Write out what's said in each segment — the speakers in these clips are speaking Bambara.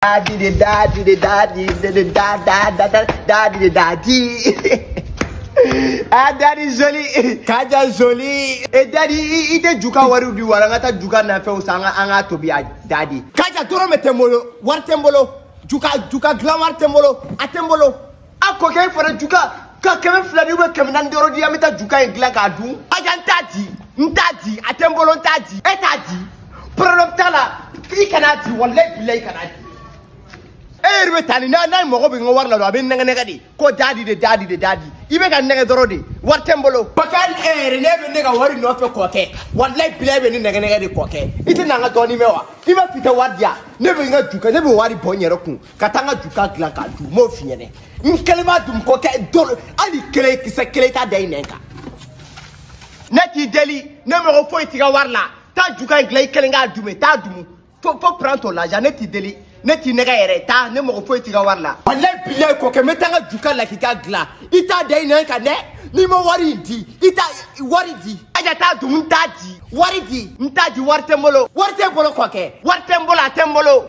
da di di da di di da di di di da da da da da di di da di ah dadi joli kaja joli e dadi i tɛ juka wari di wala an ka taa juka nafɛnw san an ka an ka tobi a dadi kaja dɔrɔmɛ tɛ n bolo wari tɛ n bolo juka juka dilan wari tɛ n bolo a tɛ n bolo a kɔkɛ in fana juka ka kɛmɛ filanin ou bien kɛmɛ naani dɔrɔn di an bɛ taa juka in dilan k'a dun kaja n t'a di n t'a di a tɛ n bolo n t'a di e t'a di problème t'a la i kana di walayi bilayi kana di e yɛrɛ bɛ taa ni n'a n'a mago bɛ n ka wari la dɔrɔn a bɛ n nɛgɛ nɛgɛ de ko dadi de dadi de dadi i bɛ ka n nɛgɛ dɔrɔn de wari tɛ n bolo. bakari e yɛrɛ ne bɛ ne ka wari nɔfɛ kɔkɛ walayi bilayi e bɛ ne nɛgɛ nɛgɛ de kɔkɛ i tɛ na n ka dɔɔnin mɛn wa i b'a f'i tɛ wari di yan ne bɛ n ka juka ne bɛ wari bɔ n yɛrɛ kun ka taa n ka juka dilan k'a dun n b'o f'i ɲɛna n kelen b'a dun kɔkɛ dolo hali kelen kisɛ kelen t'a da i nɛn kan ne t'i deli ne mago foyi t'i ka wari la taa juka in dilan i kelen k'a dumu taa dumu faut faut prendre ton l'argent ne t'i deli ne t'i nɛgɛ yɛrɛ taa ne mago foyi t'i ka wari la walayi bilayi kɔkɛ n bɛ taa n ka juka lakika dilan i t'a da i nɛn kan dɛ n'i ma wari in di i t'a wari di aja t'a dumu n t'a di wari di n t'a di wari tɛ n bolo wari tɛ n bolo kɔkɛ wari tɛ n bolo a tɛ n bolo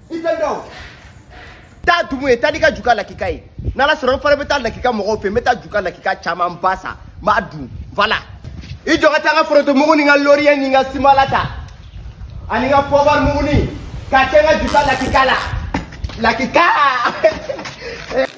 i tɛ dɔn taa dumu ye taa n'i ka juka lakika ye n'ala sɔnna n fana bɛ taa lakika mɔgɔw fɛ n bɛ taa juka lakika camanba san n b'a dun voilà i jɔ ka taa n ka forotomugu ni n ka loriye ni n ka simala ta ani n ka pɔbari mugunin k'a kɛ n ka juka lakika la lakika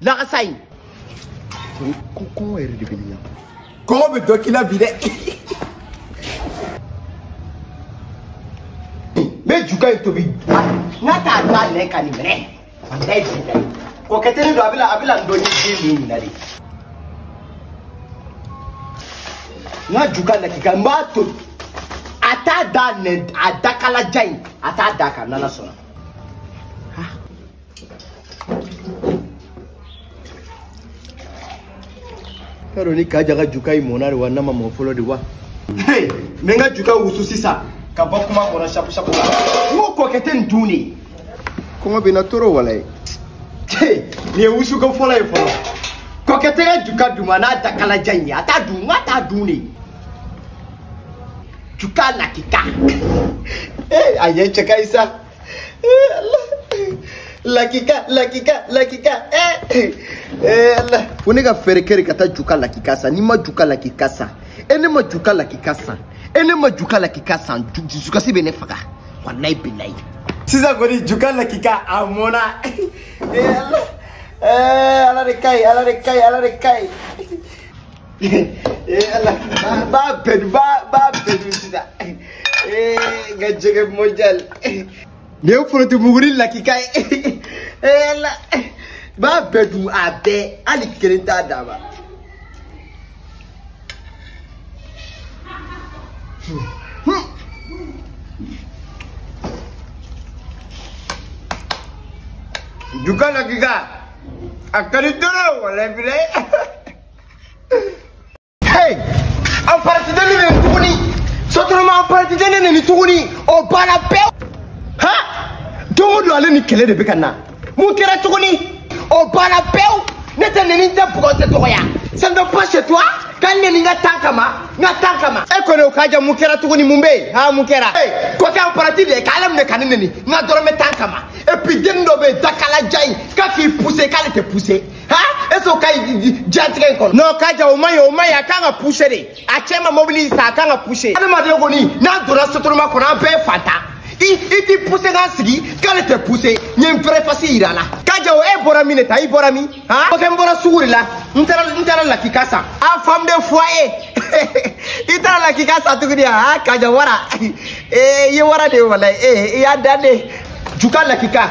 laxasaay ko ko yɛrɛ de bɛ ne ɲɛ kɔngɔ bɛ dɔ k'i la bi dɛ n bɛ juka in tobi nka a t'a da a nɛn kan nin minɛ a bɛ ju da ye kɔkɛ tɛ ne dɔn a bila a bila n dɔ ni den min ɲininka de n ka juka lakika n b'a to a t'a da nɛn a dakalajan in a t'a da ka n'ala sɔnna k'a dɔn ni kaja ka juka in mɔna de wa n'a ma mɔ fɔlɔ de wa n bɛ n ka juka wusu sisan ka bɔ kuma kɔnɔ sapu sapu la n ko kɔkɛ tɛ nin dun de kɔngɔ bɛ n na trop walayi nin ye wusuko fɔlɔ ye fɔlɔ kɔkɛ tɛ n ka juka dun ma n'a dakalajan in ye a t'a dun n k'a t'a dun de juka lakika a ye cɛ ka ɲi sa lakika lakika lakika eh eh Allah ko ne ka fɛɛrɛ kɛ de ka taa juka lakika san n'i ma juka lakika san e ne ma juka lakika san e ne ma juka lakika san dusukasi bɛ ne faga walayi bilayi sisan kɔni juka lakika a mɔna eh Allah eh Allah de ka ɲi Allah de ka ɲi Allah de ka ɲi b'a bɛɛ dun b'a bɛɛ dun sisan n ka jɛgɛ modɛli nin ye forotobuguri lakika ye b'a bɛɛ dun a bɛɛ hali kelen t'a d'a ma juka lakika a ka di dɔrɔn wala filɛ Hey! Aparanti de ye ne neni tuguni! Sotoroma aparanti de ye ne neni tuguni! O banna pewu! Ha! Don o don ale ni kɛlɛ de bɛ ka na. Mun kɛra tuguni? O banna pewu! Ne tɛ neni n tɛ bugɔ n tɛ dɔgɔya. Ça ne va pas chez toi? Ka n neni n ka tan kama, n ka tan kama. E kɔni o Kaja mun kɛra tuguni mun bɛ yen? Ha mun kɛra? Hey! Kɔkɛ aparanti de ye k'ale minɛ ka ne neni n ka dɔrɔmɛ tan kama. Et puis deni dɔ bɛ yen dakalajan in k'a k'i pousser k'ale tɛ pousser. ha est ce que o ka ɲi diɲɛlatigɛ in kɔnɔ. non Kaja o man ɲi o man ɲi a kan ka pousser de a cɛ ma mobili san a kan ka pousser. adamaden kɔni n'a donna sotoroma kɔnɔ an bɛɛ ye fantan ye i t'i pousser k'a sigi k'ale tɛ pousser n ye n vrai face yira a la. Kaja o e bɔra min de tan i bɔra min. han kɔkɛ n bɔra sugu de la n taara n taara lakika san. a femme de foyer i taara lakika san tuguni ha Kaja wara ee i ye wara de ye walayi ee i y'a dan de juka lakika.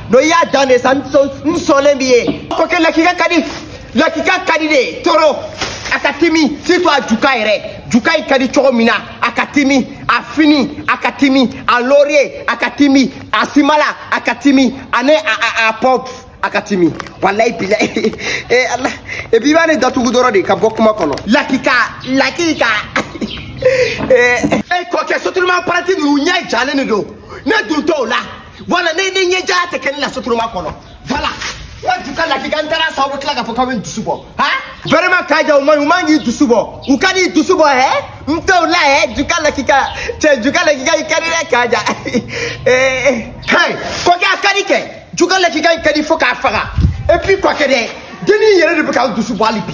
no i y'a dan de sa n sɔnlen b'i ye kɔkɛ lakika ka di lakika ka di de trop a ka timi surtout a juka yɛrɛ juka in ka di cogo min na a ka timi a fini a ka timi a loriye a ka timi a simala a ka timi ani a a pop a ka timi walayi bila ee ala epi i b'a ne datugu dɔrɔn de ka bɔ kuma kɔnɔ lakika lakika ee e kɔkɛ sotoroma aparanti ninnu ɲɛ jalen de don ne dun t'o la voilà ne ne ɲɛ ja tɛ kɛ ne la sotoroma kɔnɔ voilà wa juka lakika n taara san o tila k'a fɔ k'aw bɛ n dusu bɔ ha vraiment Kaja u man ɲi u man k'i dusu bɔ u kan'i dusu bɔ hɛ n t'o la hɛ juka lakika cɛ juka lakika i ka di dɛ Kaja ee hɛn kɔkɛ a ka di kɛ juka lakika i ka di fo k'a faga et puis kɔkɛ dɛ denni yɛrɛ de bɛ ka n dusu bɔ hali bi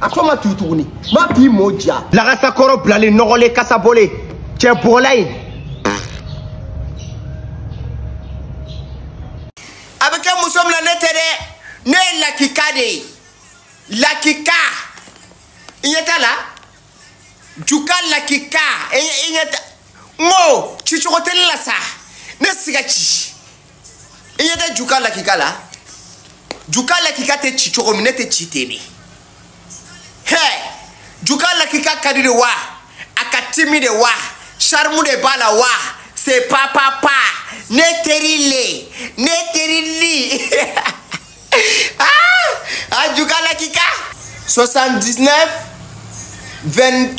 a fɔ ma tugu tuguni ma b'i mo ja lagasakɔrɔ bilalen nɔgɔlen kasabɔlen cɛ bɔgɔla ye a bɛ kɛ muso min na ne tɛ dɛ ne ye lakika de ye lakika i ɲɛ t'a la juka lakika i ɲɛ t'a n ko cicogo tɛ ne la sa ne siga ci i ɲɛ tɛ juka lakika la juka lakika tɛ ci cogo min ne tɛ ci ten de hɛ juka lakika ka di de wa a ka timi de wa charme de b'a la wa c'est papa pa ne teri le ne teri li ah juka lakika 79 23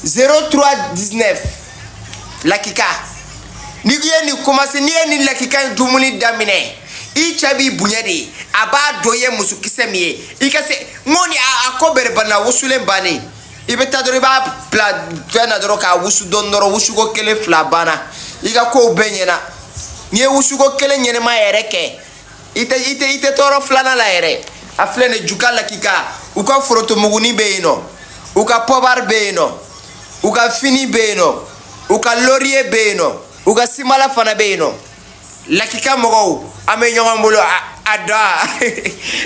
03 19 lakika n'i ye nin komase n'i ye nin lakika in dumuni daminɛ i cɛ b'i bonya de a b'a dɔn i ye muso kisɛ min ye i ka se n ko ni a ko bɛrɛ banna wusulen bannen i bɛ taa dɔrɔn i b'a bila fɛn na dɔrɔn k'a wusu dɔɔni dɔrɔn wusuko kelen fila banna i ka kow bɛɛ ɲɛna n'i ye wusuko kelen ɲɛnama yɛrɛ kɛ i tɛ i tɛ i tɛ tɔɔrɔ filanan la yɛrɛ a filɛ nin juka lakika u ka forotomuguni bɛ yen nɔ u ka pɔbari bɛ yen nɔ u ka fini bɛ yen nɔ u ka loriye bɛ yen nɔ u ka simala fana bɛ yen nɔ lakika mɔgɔw an bɛ ɲɔgɔn bolo a da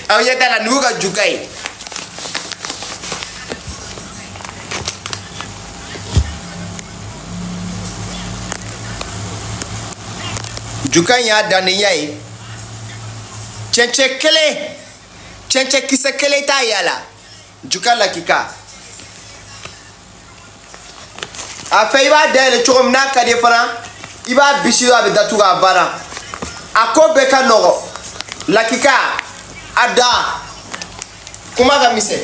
aw ɲɛ t'a la nin y'u ka juka ye juka in ye dannaya ye cɛncɛn kelen cɛncɛn kisɛ kelen t'a ɲa la juka lakika a fɛ i b'a dayɛlɛ cogo min n'a ka di fana i b'a bisi a bɛ datugu a banna a ko bɛɛ ka nɔgɔ lakika a da kuma ka misɛn